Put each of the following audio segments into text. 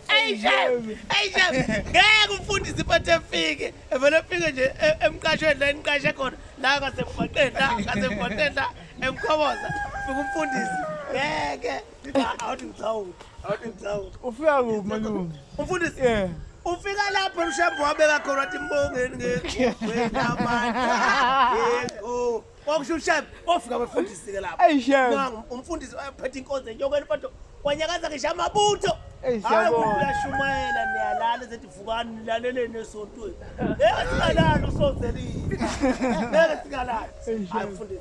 Hey Jeff, hey Jeff, ngeke umfundisi iphathe efike, evele efike nje e- emqashweni la eniqashe khona, la ngasemgwaqeni la, ngasemgwaqeni la emkhoboza. Fika umfundisi. Ngeke. Awuthi ngithawuthi. Awuthi ngithawuthi. Ufika kuphi malume? Umfundisi. Yeah. Ufika lapho emshambo wabeka khona wathi mbongeni ngeke. Wena manje. Yebo. Kwakusho uShem ofika befundisi ke lapho. Hey Shem. Nangu umfundisi ophethe inkonzo enyokweni mfowethu wanyakaza ngisho amabutho. Hey siyabonga. Hayi uyashumayela niyalala ezethi vukani nilaleleni esontweni. Hey asingalala usonzelile. Ngeke singalala. Hayi mfundisi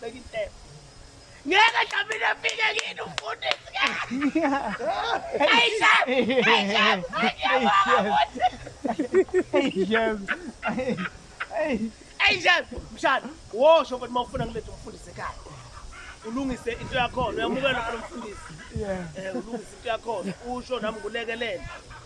Beka intebe. Ngeke Dlamini afike kini umfundisi ke. Hey Sham. Hey Sham. Hey Sham. Hey. Hey Sham. Mshana, wosho ukuthi mawufuna ngilethe umfundisi ekhaya. Ulungise into yakho, uyamukela umfundisi. Yeah. Eh ulungise into yakho, usho nami ngulekelele.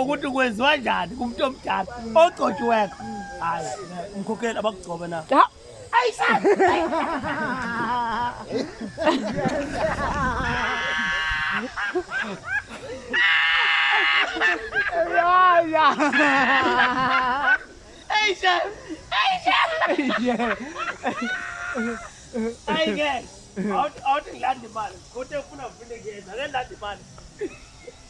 ukuthi kwenziwa njani kumuntu omdala ogcotshiweko hayi umkhokheli abakugcobe na awuthi ngilanda imali kodwa ufuna vile kuyeza ke landa imali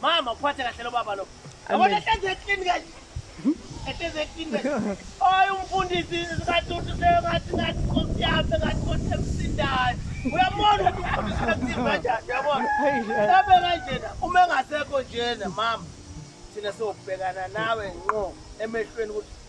mama uphathe kahle lo baba lo yabona ehlezi eklini kanje ehlezi eklini kanje oyi umfundisi ngathi uthi sengathi ngathi nkosi yami ngathi nkosi emsindayo uyabona ukuthi umfundisi kakuthini kanjani uyabona abe kanjena uma engasekho njena mama thina siyobhekana nawe nqo emehlweni ukuthi